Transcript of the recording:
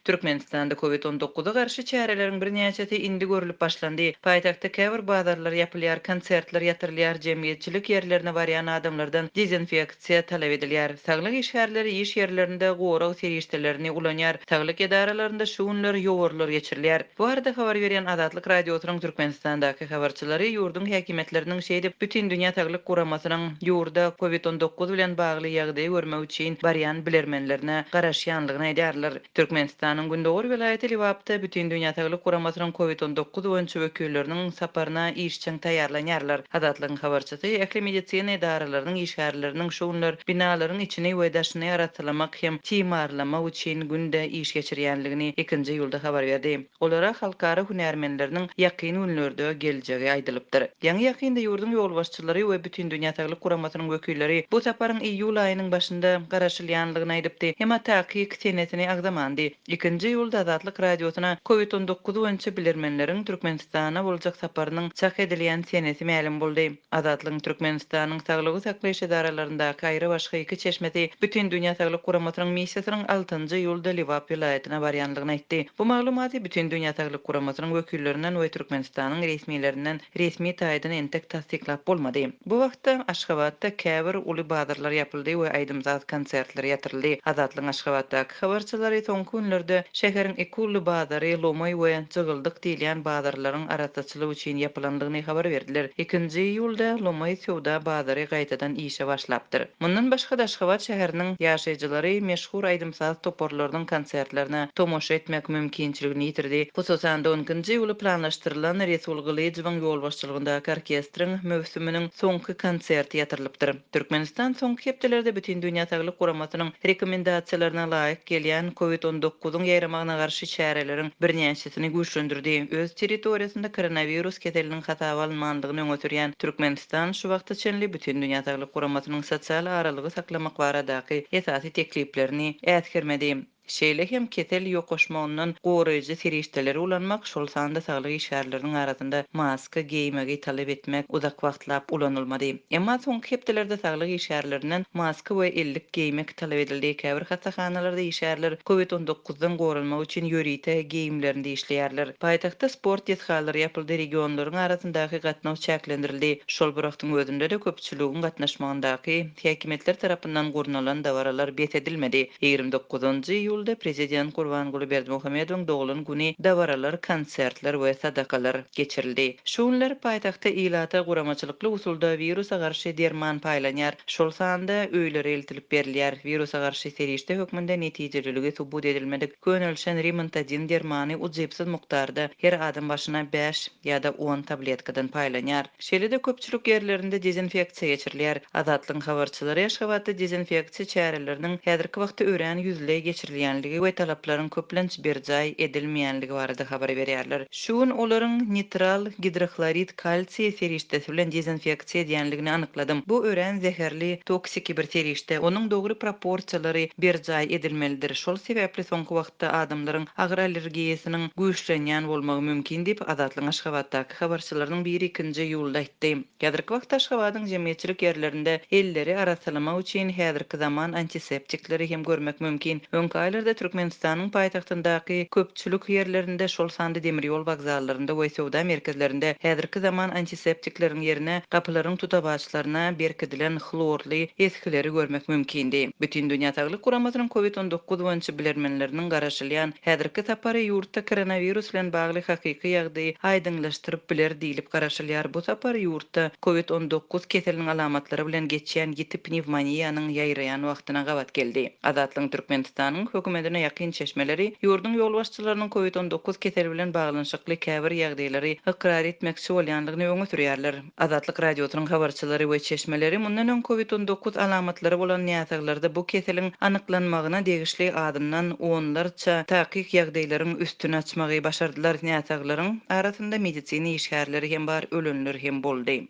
Türkmenistanda Covid on dokuza garşy çäreleriň birnäçesi indi görlüp başlandy. Paýtagtda käbir bazarlar ýapylýar, konsertler ýatyrylýar, jemgyýetçilik ýerlerine barýan adamlardan dezinfeksiýa talap edilýär. Saglyk işgärleri iş ýerlerinde gorag serişdelerini ulanýar. Saglyk edaralarynda şu günler ýowarlar geçirilýär. Bu barada habar berýän Azatlyk Radiosynyň Türkmenistandaky habarçylary ýurduň häkimiýetleriniň şeýdip Bütindünýä saglyk guramasynyň ýurda Covid on dokuz bilen bagly ýagdaýy görmek üçin barýan bilermenlerine garaşýanlygyny aýdýarlar. Türkmenistanyň gündogar welaýaty Lebapda Bütindünýä saglyk guramasynyň Covid on dokuz boýunça wekilleriniň saparyna işjeň taýýarlanýarlar. Azatlygyň habarçysy ähli medisina edaralarynyň işgärleriniň şu günler binalaryň içini we daşyny arassalamak hem timarlamak üçin günde iş geçirýänligini ikinji ýulda habar berdi. Olara halkara hünärmenleriniň ýakyn günlerde geljegi aýdylypdyr. Ýaňy-ýakynda ýurduň ýolbaşçylary we Bütindünýä Saglyk Guramasynyň wekilleri bu saparyň iýul aýynyň başynda garaşylýanlygyny aýdypdy, emma takyk senesini agzamandy. Ikinji iýulda Azatlyk Radiosyna Covid on dokuz boýunça bilermenleriň Türkmenistana boljak saparynyň çak edilýän senesi mälim boldy. Azatlygyň Türkmenistanyň saglygy saklaýyş edaralaryndaky aýrybaşga iki çeşmesi Bütindünýä saglyk guramasynyň missiýasynyň altynjy iýulda Lebap welaýatyna barýandygyny aýtdy. Bu maglumaty Bütindünýä saglyk guramasynyň wekillerinden we Türkmenistanyň resmilerinden resmi taýdan entek tassyklap bolmady. Bu wagtda Aşgabatda käbir uly bazarlar ýapyldy we aýdym-saz konsertleri ýatyryldy. Azatlygyň Aşgabatdaky habarçylary soňky günlerde şäheriň iki uly bazary, Lomoý we Jygyldyk diýilýän bazarlaryň arassa ýapgytçylyk üçin ýapylandygyny habar berdiler. Ikinji iýulda lomaý söwda bazary gaýtadan işe başlapdyr. Mundan başga-da Aşgabat şäheriniň ýaşaýjylary meşhur aýdym-saz toparlarynyň konsertlerine tomaşa etmek mümkinçiligini ýitirdi. Hususan-da, on ikinji iýula planlaşdyrylan Resul Gylyjowyň ýolbaşçylygyndaky orkestriň möwsüminiň soňky konserti ýatyrylypdyr. Türkmenistan soňky hepdelerde Bütindünýä saglyk guramasynyň rekomendasiýalaryna laýyk gelýän Covid on dokuzyň ýaýramagyna garşy çäreleriň birnäçesini güýçlendirdi. Öz territoriýasynda koronawirus keseliniň hasaba alynmandygyny öňe sürýän Türkmenistan şu wagta çenli Bütindünýä saglyk guramasynyň sosial aralygy saklamak baradaky esasy tekliplerini äsgermedi. Şeýle hem kesel ýokaşmagyndan goraýjy serişdeleri ulanmak, şol sanda saglyk işgärleriniň arasynda maska geýmegi talap etmek uzak wagtlap ulanylmady. Emma soňky hepdelerde saglyk işgärlerinden maska we ellik geýmek talap edildi. Käbir hassahanalarda işgärler Covid on dokuzdan goranmak üçin ýörite geýimlerinde işleýärler. Paýtagtda sport desgalary ýapyldy, regionlaryň arasyndaky gatnaw çäklendirildi. Şol bir wagtyň özünde-de köpçüligiň gatnaşmagyndaky. Häkimiýetler tarapyndan gurnalan dabaralar bes edilmedi. Ýigrimi dokuzynjy iýulda prezident Gurbanguly Berdimuhamedowyň doglan güni dabaralar, konsertler we sadakalar geçirildi. Şu günler paýtagtda ilata guramaçylykly usulda wirusa garşy derman paýlanýar, şol sanda öýlere eltilip berilýär. Wirusa garşy serişde hökmünde netijeliligi subut edilmedik Könelişen Rimantadin dermany ujypsyz mukdarda, her adam başyna bäş ýa-da on tabletkadan paýlanýar. Şeýle-de köpçülik ýerlerinde dezinfeksiýa geçirilýär. Azatlygyň habarçylary Aşgabatda dezinfeksiýa çäreleriniň häzirki wagtda örän ýüzleý geçirilýänligi we talaplaryň köplenç berjaý edilmeýänligi barada habar berýärler. Şu gün olaryň nitral gidrohlorid kalsiý serişdesi bilen dezinfeksiýa sezýänligini anykladym. Bu örän zäherli, toksiki bir serişde, onuň dogry proporsiýalary berjaý edilmelidir, şol sebäpli soňky wagtda adamlaryň agyr allergiýasynyň güýçlenýän bolmagy mümkin diýip, Azatlygyň Aşgabatdaky habarçylarynyň biri ikinji iýulda aýtdy. Häzirki wagtda Aşgabadyň jemgyýetçilik ýerlerinde elleri arassalamak üçin häzirki zaman antiseptikleri hem görmek mümkin. Öňki aýlarda Türkmenistanyň paýtagtyndaky köp. çülük ýerlerinde, şol sanda demir ýol wokzallarynda we söwda merkezlerinde häzirki zaman antiseptikleriň ýerine gapylaryň tutawaçlaryna berkidilen hlorly esgileri görmek mümkindi. Bütindünýä saglyk guramasynyň Covid on dokuz boýunça bilermenleriniň garaşylýan häzirki sapary ýurtda koronawirus bilen bagly hakyky ýagdaýy aýdyňlaşdyryp biler diýlip garaşylýar, bu sapar ýurtda Covid on dokuz keseliniň alamatlary bilen geçýän ýiti pnewmoniýanyň ýaýraýan wagtyna gabat geldi. Azatlygyň Türkmenistanyň Hökümetine ýakyn çeşmeleri ýurduň ýolbaşçylarynyň Covid on dokuz keseli bilen baglanyşykly käbir ýagdaýlary ykrar etmekçi bolýanlygyny öňe sürýärler. Azatlyk Radiosynyň habarçylary we çeşmeleri mundan öň Covid on dokuz alamatlary bolan näsaglarda bu keseliň anyklanmagyna degişli azyndan onlarça takyk ýagdaýlaryň üstüni açmagy başardylar, näsaglaryň arasynda medisina işgärleri hem bar, ölenler hem boldy.